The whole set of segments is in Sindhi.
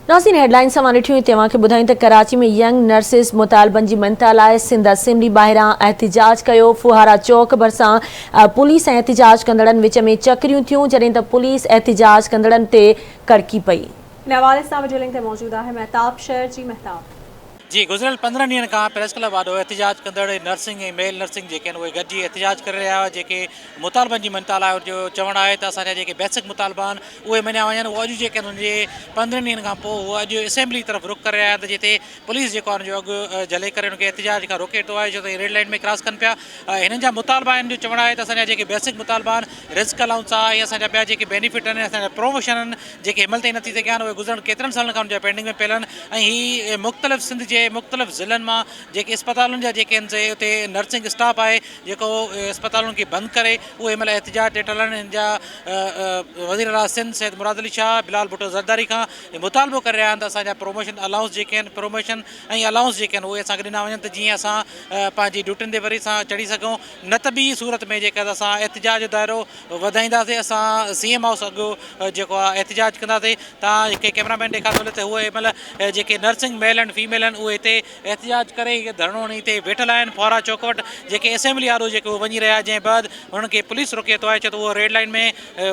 ناظرين هيڊلائنز سان ڏٺيون هتي اوهان کي ٻڌايون ته ڪراچي ۾ ينگ نرسز مطالبن جي مڃتا لاء سنڌ اسيمبلي ٻاهران احتجاج ڪيو، ڦوهارا چوڪ ڀرسان پوليس ۽ احتجاج ڪندڙن وچ ۾ چڪريون ٿيون جڏهن ته پوليس احتجاج ڪندڙن تي ڪڙڪي پئي. نوال اسلام وڊيو لنڪ تي موجود آهي مهتاب شهر جي مهتاب. جي گذريل پندرهن ڏينهن کان پريس ڪلب آڏو احتجاج ڪندڙ نرسنگ ۽ ميل نرسنگ جيڪي آهن اهي گڏجي احتجاج ڪري رهيا هئا جيڪي مطالبن جي مڃتا لاء جو چوڻ آهي ته اسان جا جيڪي بيسڪ مطالبا آهن اهي مڃيا وڃن اهو اڄ جيڪي انهن جي پندرهن ڏينهن کان پوء اهو اڄ اسيمبلي طرف رخ ڪري رهيا آهن ته جتي پوليس جيڪو آهن جو اڳ جهلي ڪري ان کي احتجاج کان روڪي ٿو آهي جو ته ريڊ لائيٽ ۾ ڪراس ڪن پيا هنن جا مطالبا آهن جو چوڻ آهي ته اسان جا جيڪي بيسڪ مطالبا آهن رزق الاؤنس آهي ۽ اسان جا ٻيا جيڪي بينيفٽ آهن اسان جا پروموشن آهن جيڪي هن مهل تائين نه ٿي سگهيا آهن اهي گذريل ڪيترن سالن کان ان جا پينڊنگ ۾ پيل آهن ۽ هي مختلف سنڌ جي مختلف ضلعن مان جيڪي اسپتالن جا جيڪي هن سي اتي نرسنگ اسٽاف آهي جيڪو اسپتالن کي بند ڪري اهي هن مهل احتجاج تي ٽل آهن هن جا وزير اعليٰ سنڌ سيد مراد علي شاهه بلال ڀٽو زرداري کان هي مطالبو ڪري رهيا آهن ته اسان جا پروموشن الاونس جيڪي آهن پروموشن ۽ الاونس جيڪي آهن اهي اسان کي ڏنا وڃن ته جيئن اسان پنهنجي ڊيوٽين تي وري سان چڙهي سگهون نه ته ٻي صورت ۾ جيڪا اسان احتجاج جو دائرو وڌائينداسين اسان سي ايم هائوس اڳ جيڪو آهي احتجاج ڪنداسين توهان کي ڪيمرا مين ڏيکار ٿو ڏي ته هو هن مهل جيڪي نرسنگ ميل اينڊ فيميل آهن اهي هتي احتجاج ڪري هي ڌرڻو هڻي هتي ويٺل آهن فوارا چوڪ وٽ جيڪي اسيمبلي آڏو جيڪي هو وڃي رهيا جنهن بعد هنن کي پوليس روڪي ٿو آهي ڇو ته هو ريڊ لائين ۾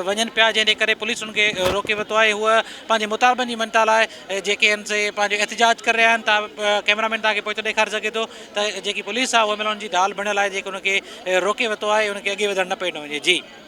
وڃن پيا جنهن جي ڪري پوليس هنن کي روڪي ورتو آهي هو پنهنجي مطالبن جي مڃتا لاء جيڪي آهن سي پنهنجو احتجاج ڪري رهيا آهن توهان ڪيمرا مين توهان کي پوئتو ڏيکاري سگهي ٿو ته جيڪي پوليس آهي هو هن مهل هنن جي ڍال بڻيل آهي جيڪي هن کي روڪي ورتو آهي هن کي اڳي وڌڻ نه پئي ڏنو وڃي جي